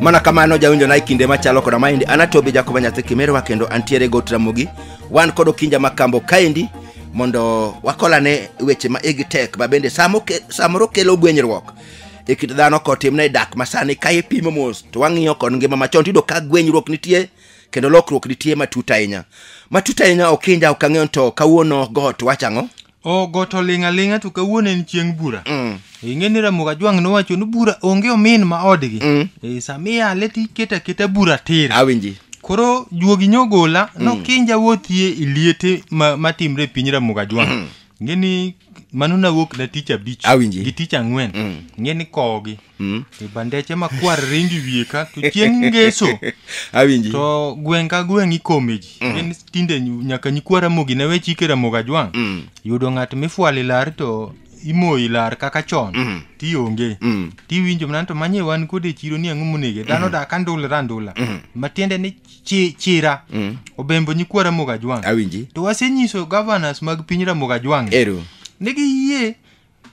mana kamano jawinjo na e kinde machalo koda maendi anatobi jakoba nyathi kimerwa kendo antiere got ramogi wan kod okinja makambo kaendi mondo wakolane weche ma igi tek ma bende samo ke- samoro kelo gwenyruok e kit dhano kotimne dak masani ka ipimo mos to wang'iyo kod ngima machon tiyudo ka gwenyruok nitie kendo lokruok nitie matut ahinya matut ahinya okinja ok ang'eyo to kawuono got wacho ang'o o got oling' aling'a to kawuono en chieng' bura Mm. ing'e ni ramoga jwang' nowacho ni bura onge omin ma odgi Mm. e, sama iyale to iketo aketa bura tir awinji koro juogi nyogola nokinja wuothie e liete ma- matimre e piny ramoga jwang' ing'e ni mano nawuok na tich abich Awinji. gi tich ang'wen ing'e ni kowgi Mm. e bandeche makwar ringi wiye ka to chieng' ngeso awinji to gweng' ka gweng' ikome ji en tinde nyu- nyaka nyikwa ramogi ne we chike ramogi ajwang' Mm. yudo ng'at mifwali lar to imoyi lar kaka chon Mm. tionge Mm. tiwinjo mana to manye wan kode e chiro ni ang'o monege dhano dak andulre andula matiende ni chi- chira Mm. obembo nyikwa ramogi ajwang' awinji to wasenyiso governors mag piny ramogi ajwang' ero ni giyie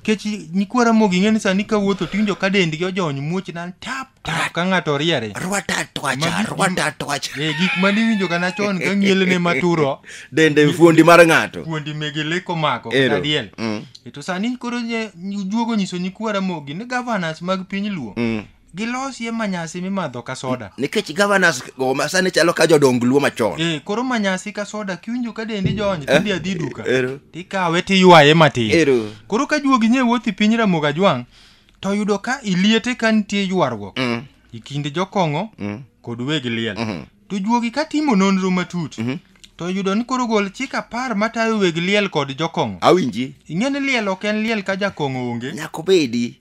Kech nyikwa Ramogi ing'e ni sani ka wuotho tiwinjo ka dendgi ojony muoch nan tap tap ka ng'ato riere. Rwata twacha, Magi- rwata twacha. Eh, gik ma niwinjo ga nachon ka ng'ielene maturo Dende fuondi mar ng'ato. kuondi mege leko mako Ero. kata diel. Mm. E to sani koro nye- juogo nyiso nyikwa Ramogi ni governors mag piny Luo Mm. gilosie manyasi mimadho ka soda nikech governors go ma sani chalo ka jodong luo machon eh, koro manyasi ka soda kiwinjo ka dendi jony tindi eh, adhi duka ero tikawe tiywaye matin ero koro ka juogi nye wuothi piny ramoga jwang' to yudo ka iliete ka nitie ywarruok mm. e kind jokong'o mm. kod weg liel mm -hmm. to juogi ka timo nonro matut mm -hmm. to yudo ni koro gol chik apar matayo weg liel kod jokong'o awinji ing'e ni liel ok en liel ka jakong'o onge nyako bedi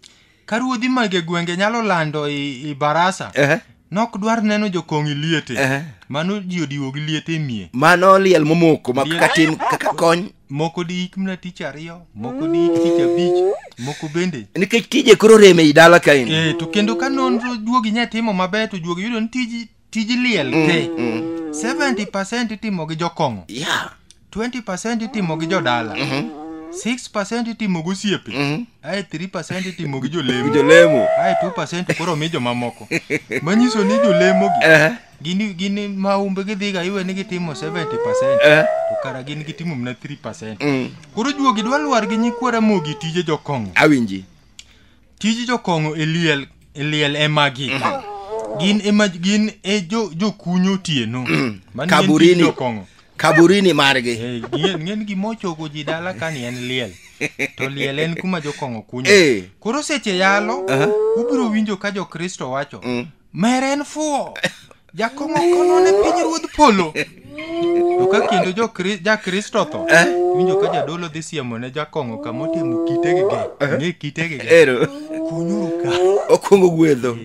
ka ruodhi mage gwenge nyalo lando i, i barasa Ehe. nok dwar neno jokong'i liete Ehe. mano ji odiwo gi liete e mie mano liel momoko ma Liel. kaka tim kaka kony moko diik mna tich ariyo moko diik tich abich moko bende nikech tije koro rem ei dala kaeni e to kendo ka nonro juogi nya timo maber to juogi yudo ni tiji tij liel te 70% itimo gi jokong'o Yeah. 20% itimo gi jodala 6% itimo gosiepe ae 3% itimo gi jolemo Jolemo. ae 2% koro mi jomamoko manyiso ni jolemogi Eh. gini gini maumbe gidhiga iwe ni gitimo 70% Eh. to kara gin gitimo mana 3% Mm. koro juogi dwa lwar gi nyikwara mogi tije jokong'o Awinji. tij jokong'o e liel e liel e magi gin ema gin e jo jokunyo otieno Mano en tij Kaburini. jokong'o kaburini margi Eh, ng'e- ng'en gima ochogo ji dala ka ni en liel to liel en kuma jokong'o kunyo Eh. koro seche yalo ubiro winjo ka jokristo wacho Mere en fuwo. Jakong'o kono ne piny ruodh polo. To ka kendo jo Kri- ja Kristo tho, Eh? winjo ka jadolo dhi siemo ne jakong'o kama otimo kitegi ge. Ng'e kitegi ge. Ero. Kunyuru ka. Okwongo gwedho.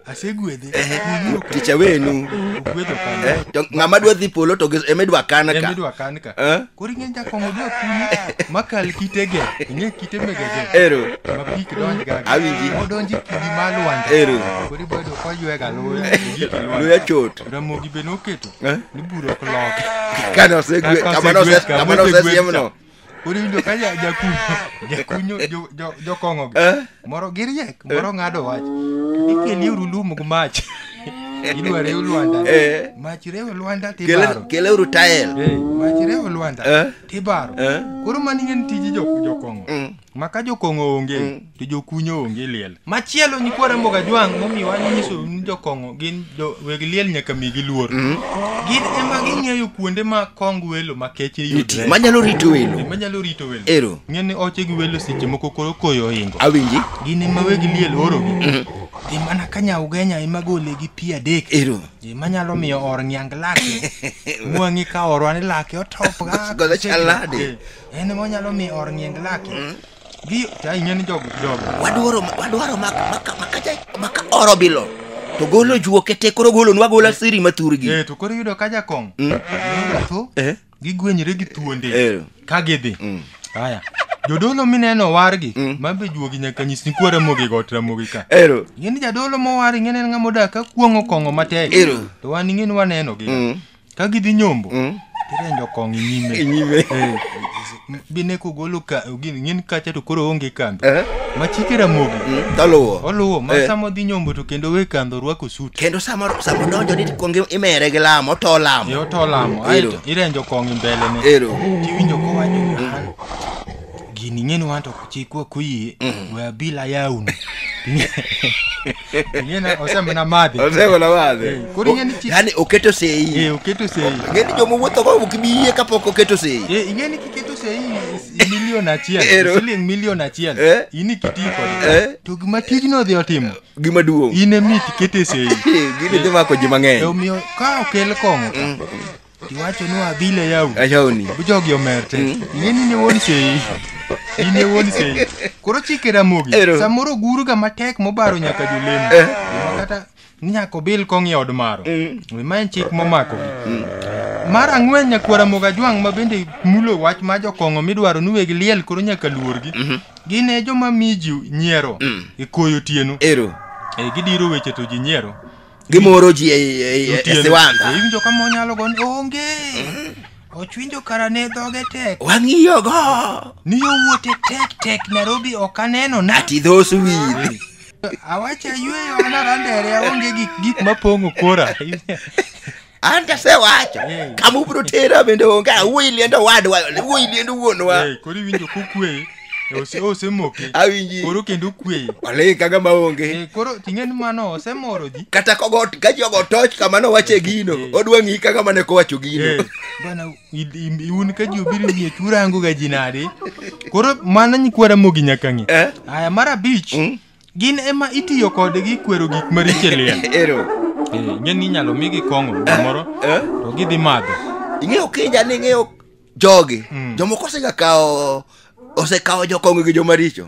Asegwedhe. Kunyuru ka. Ticha wenu. Ogwedho kanyo. Eh, to ng'ama dwa dhi polo to gi- ema idwa kan ka. Emidwa kan ka. Eh? Koro ing'eny ka kong'o dwa kumi makal kitege. Ing'e kite megege. Ero. Ma pi kidonj gaga. Awinji. Odonji kidi ma lwanda. Ero. Koro ibo yudo koywe ga luya. Gik lwanda. Luya chot. Ramogi be noketo. Eh? Ni buro ok lok. Kane osegwe, Kaka kama nose- osegwe- kama kama osegwe- nosesiemno. Koro iwinjo ka ja- jakunyo. Jakunyo jo- jo- jokong'o gi. Eh? moro giriek moro ng'ado wach ikeli uru lum gi mach idwa rew lwanda Eh. mach rew lwanda tibaro Kele- keleuru tael Eh, mach rew lwanda Eh. tibaro Eh. koro mani en tij jo- jokong'o Mm. ma ka jokong'o onge to jokunyo onge liel machielo nyikwara mboga jwang' momiwa nyiso ni jokong'o gin jo weg liel nyaka migi luor gin ema ging'eyo kuonde ma kong welo ma keche Nitie. yudre Manyalo rito welo. Gima nyalo rito welo Ero. ng'e ni oche gi welo seche moko koro koyo ohingo Awinji. gin ema weg liel orogi dhi mana ka nyaugenya ema gole gi pi adek Ero. gima nyalo miyo or ngiang lake mwang'i ka orwa ni lake otopga Gola chalade. en ema nyalo miyo or ngiang lake Gi ta ing'e ni jog jog. wadwaro wadwaro mak maka maka ja maka oro bilo to golo juoke te koro golo nwa gola siri mathurgi Eh to koro yudo ka jakong. Mm. Tho. Eh. Gigwenyre gi thuonde. Eh. Ka gidhi. Mm. Haya. Jodolo mineno wargi Mm. mabe juogi nyaka nyis ni kuo ramogi got ramogi ka. ero Ing'e ni jadolo mowar ing'e ni en ng'ama odak ka kuong'o kong'o matek. Ero. To wan ing'e ni waneno gi. mm. ka gidhi nyombo Mm. tirenjo kong inyime Inyime. Eh, bine kugolo ka gin ngin kacha to koro onge kambi Eh. machike ramogi Mm, Toluwo. oluwo ma Eh. sama odhi nyombo to kendo we kandho rwako suti Kendo sama sama donjo ni kuong imere gi lamo to lamo. yo to lamo Ero. aeto irenjo kong mbele ne Ero. tiwinjo kowacho an gini ng'eni wan to chikwa kuyie we abila yawni Nyine oseme na madhi. Osego na madhe. Eh, Koro ing'e ni chi- yani oketo sei Eh, oketo sei. ng'e ni joma wuotho go ok bi yie kapok oketo sei Eh, ing'e ni kiketo sei is- milion achiel, Ero. siling milion achiel. Eh. In ikiti kode. Eh. To gima tijno odhi otimo, gima duong' in emi tikete sei. gini dhi mako ji mang'eny Omiyo ka okel kong'o ka, Tiwacho ni wabile yau. Ayawni. Bujogi omer te. Mm. Ing'e ni ne wuon sei. In ne wuon sei. Koro chike Ramogi. Ero. Samoro guru ga matek mobaro nyaka jolemo. Eh. Gima Kata ni nyaka obil kong' e od maro. Wi ma en chik momako. Mar ang'wen nyakwa Ramogi Ajwang' ma bende mulo wach ma jokong'o midwaro ni weg liel koro nyaka luorgi. Gin e joma mi ji nyiero e koyo tieno. Ero. E gidiro weche to ji nyiero. Gimoro ji e, e, e, e siwandha. Iwinjo ka monyalo gon onge. Ochwinjo kara ne dhoge tek. Wang'iyo go. Ni yo wuote tek tek Nairobi ok aneno na. Ati dhos wili. Awacha yweyo anarandere aonge gik gik mapong'o kora. an tasewacho Eh. kama ubiro tera bende onge awuoyi liend owadwa wuoyi liend wuonwa Eh, koro iwinjo kokwe ose- osemoke awinji koro kendo kwe oling kaga maonge Eh, koro ting'e ni mano osemoro ji kata kogo ka ji ogo toch kamano wache gino Eh. odwa ng'i kaka mane kowacho gino Eh, bana i- i- un ka ji obiro miye turango ga ji nade koro mano nyikwara mogi nyaka ng'e Eh? aya mar abich Mm. Gin ema itiyo kodgi kwero gik maricho e liel. Ero. Eh, ing'e ni inyalo migi kong'o gimoro Eh? to gidhi madho. ing'eyo kinja ni ing'eyo jogi jomoko osegakawo osekawo jokongo gi jomaricho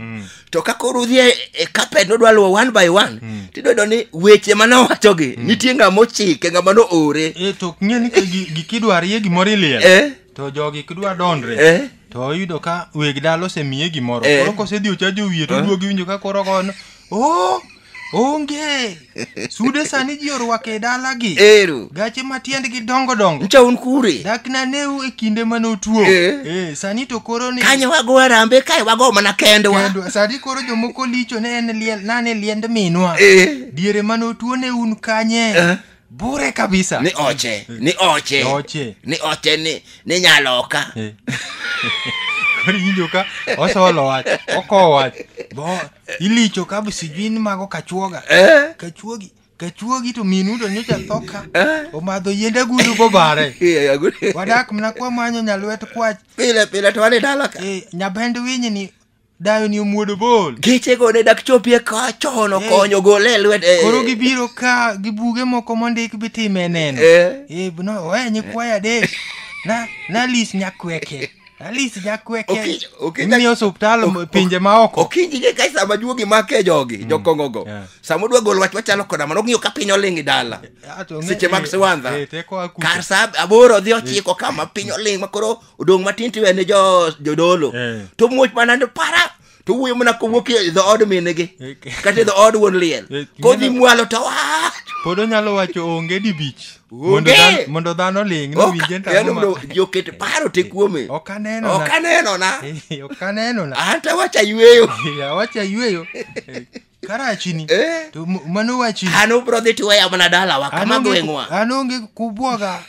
to ka koro udhi e- e kapet nodwa luwo one by one tidodo ni weche mane owachogi nitie ng'a mochike ng'a mano ore Eh, to ing'e ni ka gi- gikidwa rie gimoro e liel. Eh? To jogi kidwa dondre. Eh? to oyudo ka weg dala osemiye gimoro Eh. koro kosedhi ochajo wiye to Eh. oduogi winjo ka koro gono o onge sude sani ji orwako e dalagi Ero. gache ma tiendgi dongo dongo Ncha un kure. dak naneu e kinde mane otuo Eh. Eh, sani to koro ni Kanyo wago arambe kae wago mana kendwa. Kendwa. sani koro jomoko licho ne en liel nane liend minwa Eh. diere mane otuo ne un kanye Eh. bure kabisa ni oche ni oche Oche. ni oche ni ni nyaloka Eh. koro iwinjo ka osolo wach okowo wach bo ilicho ka be sijui ni mago kachuoga Eh. kachuogi kachuogi to minu to nyocha thoka omadho yiend agudu bobare Iya, agudi. wadak mna kwa manyo nyalwet kwach pile pile to wane dala ka Eh, nyabend winyi ni Dayo ni omuodo bol. Geche go ne dak chopie ka chon okonyo gole e lwet. eh. Koro gibiro ka gi buge moko mondik bitime neno. Eh. Eh, no, we nyikwaya adek. Na na lis nyakweke. Na lis nyakweke. Okinyi- okinyi- Imiyo osuptal ok- ok- pinje ma oko. Okinyi ge kai sama juogi make jogi, jokongo go. Yeah. Sama odwa gol wach wachalo koda mano ng'iyo ka piny oling' i dala. Ah, to ng'e- Seche mag eh, siwandha. eh, teko akuta. Kar sa aboro dhi ochiko kama piny oling' ma koro odong' matin tiwe ne jo- jodolo Eh. to muoch mana ni para to wuoyo mana kowuok e dhood minegi Okay. kata e dhood wuon liel Eh, kodhi ineno- mwalo to wach pod onyalo wacho onge di bich Onge. mondo dhan- mondo dhano ling nowinje Ok- yaani mno- joket paro te kuome ok aneno na. ok anenona Eh, ok aneno na an to awacha yweyo awacha yweyo karachini Eh. to m- mano wachini an ubro dhi tiweya mana dalawa An kama onge- gweng'wa an onge kubwoga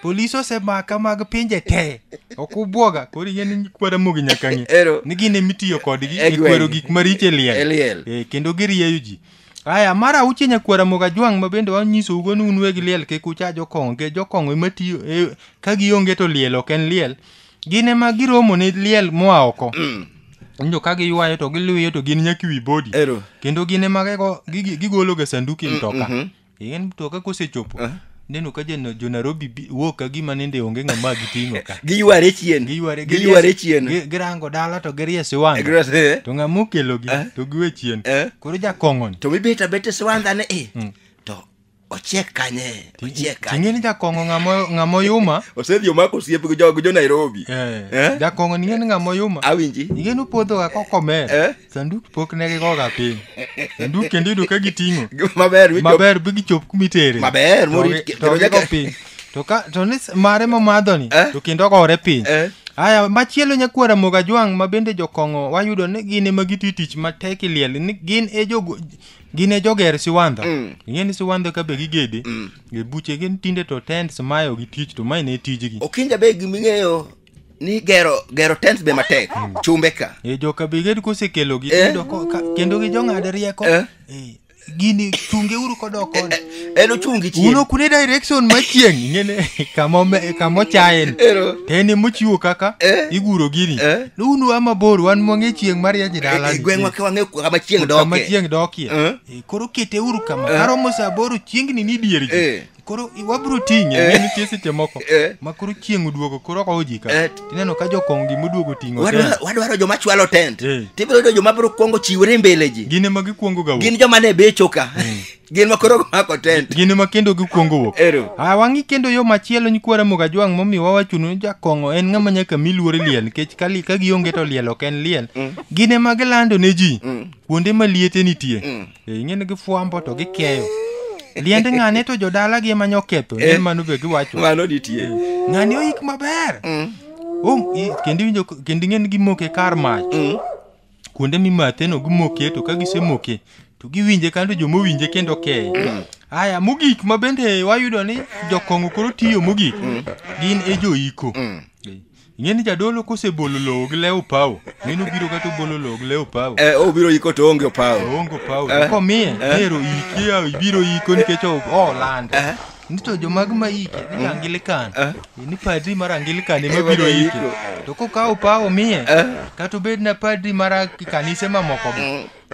polis osemaka mag pinje te ok ubwoga koro ing'e ni kwara mogi nyaka ng'e Ero. ni gin emitiyo kodgi E e gweng'. kwero gik maricho e liel E liel. Eh, kendo girieyo ji aya mar auchiel nyakwara moga jwang' ma bende wanyisougo ni un weg liel kik ucha jokong'o nikech jokong'o ematiyo e- ka gionge to liel ok en liel gin ema giromo ne liel moa oko winjo ka giywayo to giluyo to gin nyaka wi bodi Ero. kendo gin ema gigo- gigi- gigologa sanduku e mtoka Eh, en mtoka kosechopo neno ka jo- jo nairobi bi- wuok ka gima nende onge ng'ama giting'o ka Giyware chien. Giyware- Giyware giries- chien. gi- girango dala to giriesi wang' Giyware- eh. to ng'ama okelogi to giwe chien Eh. koro jakong'oni To mibet abet e siwandhane eh. To ochiek kanye ochiek kanye Ting'e ni jakong'o ng'amo- ng'amo yuma. osedhi omako osiep gi jo gi jo Nairobi Eh, Eh? Jakong'o ning'e ni ng'amo yuma. awinji Ing'e ni puodhoga kokomer. Eh? Sanduk pok ne gigoga piny. Sanduk kendo iyudo ka giting'o. maber wicho Maber bi gichop kuma itere. Maber, To morit- gi- kendo to gigo nyaka- piny. To ka to ni s- mare momadhoni Eh? to kendo ogore piny. Eh? Aya machielo nyakwara Mogajwang' ma bende jokong'o wayudo ni gin ema giti tich matek e liel ni gin e jogo gin e joger siwandha Mm. ing'e ni siwandha ka be gigede Mm. e buche gin tinde to tents mayo gi tich to mae ne tijgi okinja be giming'eyo ni gero gero tents be matek chumbe ka e joka be ged kosekelogi Eh. iyudo ko- ka- kendo gi jong'ad rieko Eh. Eh, gini chungeuru kodok koni en ochung' gi chieng' uno kune direction ma chieng' ing'ene kamo me- kamo chaen Ero. teni mochiwo kaka Eh. iguro gini Eh. ni unu wa mabor wan mwang'e chieng' marieny e dala E- e gweng'wa ka wang'e kama chieng' kama doke. chieng' dokie Eh. Eh, koro kete uru kama karomo saa boro chiengni ni dier ji Eh. koro i- wabiro ting'e Eh. ng'e nitie seche moko Eh. ma koro chieng' oduogo koro kowo ji ka Eh. tineno ka jokong' gima oduogo ting'o Wadwa- tena. wadwaro joma chwalo tent Eh. tibiro yudo joma biro kwongo chiwore mbele ji gin ema gikwongo ga wuok. gin joma ne becho ka gin ma koro mako tent gin ma kendo gikwongo wuok Ero. a wang'i kendo yo machielo nyikwa ramoga jwang' momiyo wawachonu ni jakong'o en ng'ama nyaka mi luor liel nikech ka li- ka gionge to liel ok en liel gin ema gilando ne ji kuonde ma liete nitie Eh, ing'e ni gifwambo to gikeyo liend ng'ane to jodalagi ema nyoketho ne mano be giwacho mano nitie ng'ani oik maber Um, i- kendo iwinjo- kendo ing'e ni gimoke kar mach kuonde mimathe no gimoke to ka gisemoke to giwinje kando joma owinje kendo keye aya mogik ma bende wayudo ni jokong'o koro tiyo mogik gin e joiko ing'e ni jadolo kosebolo lowo gi lewo pawo mino biro kata obolo lowo gi lewo pawo Eh, obiro iko to onge opawo oongo pawo Eh. to komiye Eh. nero iki yaw ibiro iko nikech o- olanda nito jomag maike ni angilikan Eh. ni padri mar angilikan ema Eh, biro bado ike iko. to kokawo pawo miye Eh. kata obed na padri mar kanise mamoko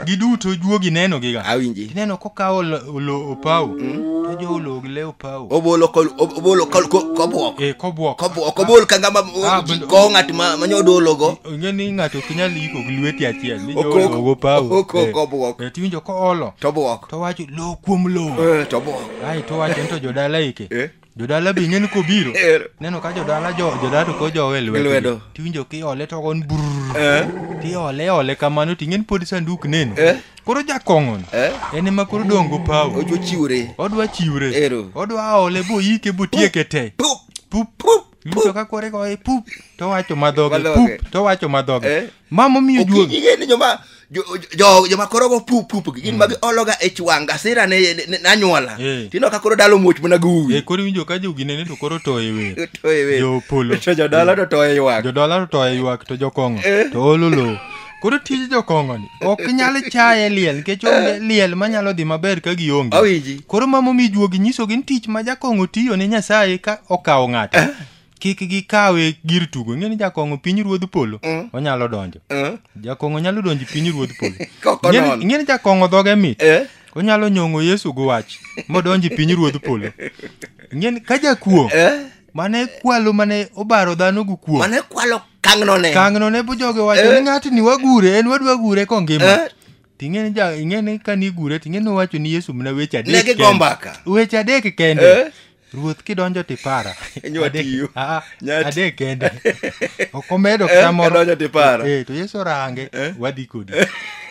giduto juogi neno giga Awinji. ineno kokawo lo- olo opawo to joolog le opawo Obolo kol ob- obolo kol ko- kobwok. e kobwok Kobwok kobol ka ngama Ah, bendo- ko ng'at ma manyo dologo. onge ni ng'ato ok nyal iko gi lweti achiel ni Okok- joolog opawo okok Eh. kobwok. Eh, tiwinjo koolo Tobwok. to wacho lo kuom lo Eh, tobwok. ai to wacho ni to jodala ike Eh? jodala be ing'eni kobiro Ero. neno ka jodala jo jodala to kojowe Lwedo. lwedo tiwinjo kiole to gon brrr Eh? tiole ole kamano ting'eni pod sanduk neno Eh? koro jakong'ono Eh? en ema koro dongo pawo Ojo chiwre. odwa chiwre Ero. odwa ole boyike botieke te Pup. pup pup Yudo ka kore goye pup to wacho madhoge Madhoge. pup to wacho madhoge. Eh. Ma momiyo juogi. Okinyi ng'e ni joma jo- jo- joma koro go pup pup gi gin magi ologa e chwang gasira ne ne- nanyuola Eh. tino ka koro dalo muoch mana gi uwi E koro winjo ka jogi nene to koro toye wer. Toye wer. Jopolo. to jodala to toye ywak Jodala to toye ywak to jokong'o Eh. to olo lowo. Koro tij jokongoni ok nyal chaye liel nikech onge liel manyalo dhi maber ka gionge. Awinji. Koro mama omi juogi nyisogi ni tich ma jakong'o tiyo ne Nyasaye ka okawo ng'ato. Kik gikawe gir tugo. Ing'e ni jakong'o piny ruodh polo Mm. onyalo donjo. Eh? Jakong'o nyalo donjo e piny ruodh polo. Kok Ing'e ni- onon. Ing'e ni jakong'o dhoge mit. Eh? Onyalo nyong'o Yesu gi wach modonjo e piny ruodh polo. Ing'e ni ka jakuo Eh? mane kwalo mane obaro dhano gi kuo mane kwalo kangno ne kangno ne bo joge wacho Eh. ni ng'ati ni wagure en wadwa gure kongima Eh. ting'e ni ja ing'e ni ka ni gure ting'e ni owacho ni yesu mna weche adek ne kende. gigo mbaka weche adek Eh. kende ruoth kidonjo tipara Nywa Adek- tiyo. Ah, ah, Nyati. adek kende ok omedo Eh, kata moro kadonjo tipara. Eh, to yesu orange Eh. wadhi kodi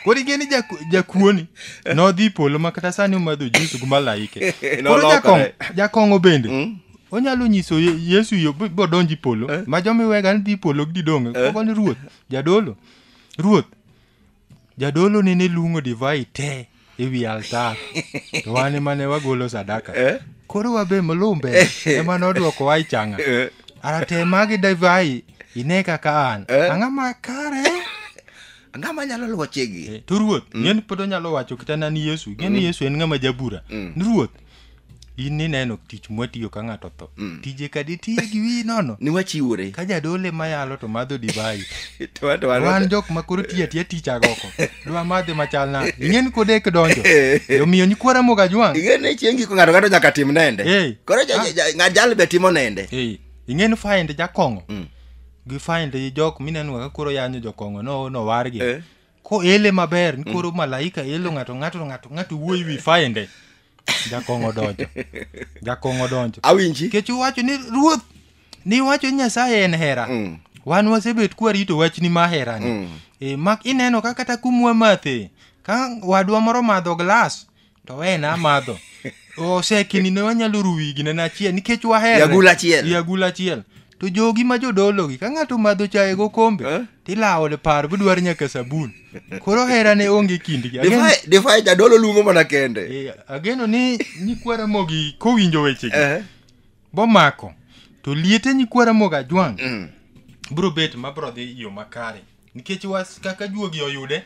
koro ing'e ni jaku- jakuoni nodhi polo ma kata sani omadho jus gi malaike koro Nolokore. jakong- jakong'o bende Mm. onyalo nyiso Ye- yesu yo b- bodonji polo Eh. ma joma iwega ni dhi polo gi didong Eh. kogo ni ruoth jadolo ruoth jadolo nene luongo divai te e wi altar to wan ema ne wagolo sadaka Eh? koro wabe molumbe ema nodwoko wa ichanga Eh. arate magi divai ine kaka an Eh. ang'a ma kare Ang'o ma nyalo luwo chigi? Eh, to ruoth ng'en pod onyalo wacho kata na ni yesu ng'e ni yesu en ng'ama jabura ni ruoth in nineno tich mwatiyo ka ng'ato tho mm. tije kadi tiye gi wiyi nono ni wachiwore ka jadole mayalo to madho divai wan jok ma koro tiya tiya tich agoko dwa madhe machal na ing'en kodek donjo omiyo nyikwara moga jwang' ing'en ni chieng' giko ng'ato ng'ato nyaka tim nende hey. koro ah. ng'at jal be timo nende hey. ing'en find jakong'o mm. gi find jok mineno kaka koro yanyo jokong'o no nowargi eh. koele maber ni koro malaika elo ng'ato ng'ato to ng'ato ng'ato wuoyi wi fainde jakong'o donjo jakong'o donjo awinji nikech uwacho ni ruoth ni iwacho ni nyasaye en hera Mm. wan wasebet kwarito wachni ma herani Mm. e, mak ineno ka kata kumwa mathe ka wadwa moro madho glas to we na madho osekini ne wanyalo ruwi gine na achiel nikech wahere Yagul achiel. yagul achiel to jogi ma jodolo gi ka ng'ato madho chaye go kombe Eh? tilawo le par budwar nyaka sabun koro hera ne onge kindgi Ageno- Defy- defy jadolo luongo mana kende Eh, ageno ni nyikwa ramogi kowinjo wechegi Eh, bomako to liete nyikwa ramogi ajwang' mm. bro bet ma bro dhi yo makare nikech was kaka juogi oyude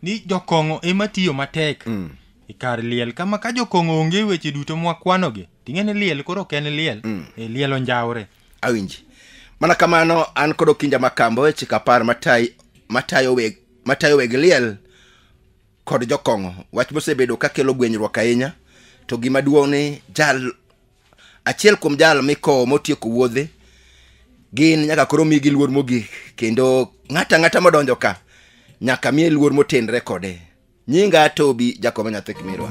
ni jokong'o ema tiyo matek mm. e kar liel kama ka jokong'o onge weche duto mwakwanogi ting'e ni liel koro ok en liel mm. e liel onjawre awinji mana kamano an kod okinja makambo e chik apar matayi- matayo weg- matayo weg liel kod jokong'o wach mosebedo kakelo gwenyruok ahinya to gima duong' ni jal achiel kuom jal mikowo motieko wuodhe gin nyaka koro migi luor mogik kendo ng'ato ang'ata modonjo ka nyaka miye luor motenre kode nyinga tobi jakobo nyathi kimirwa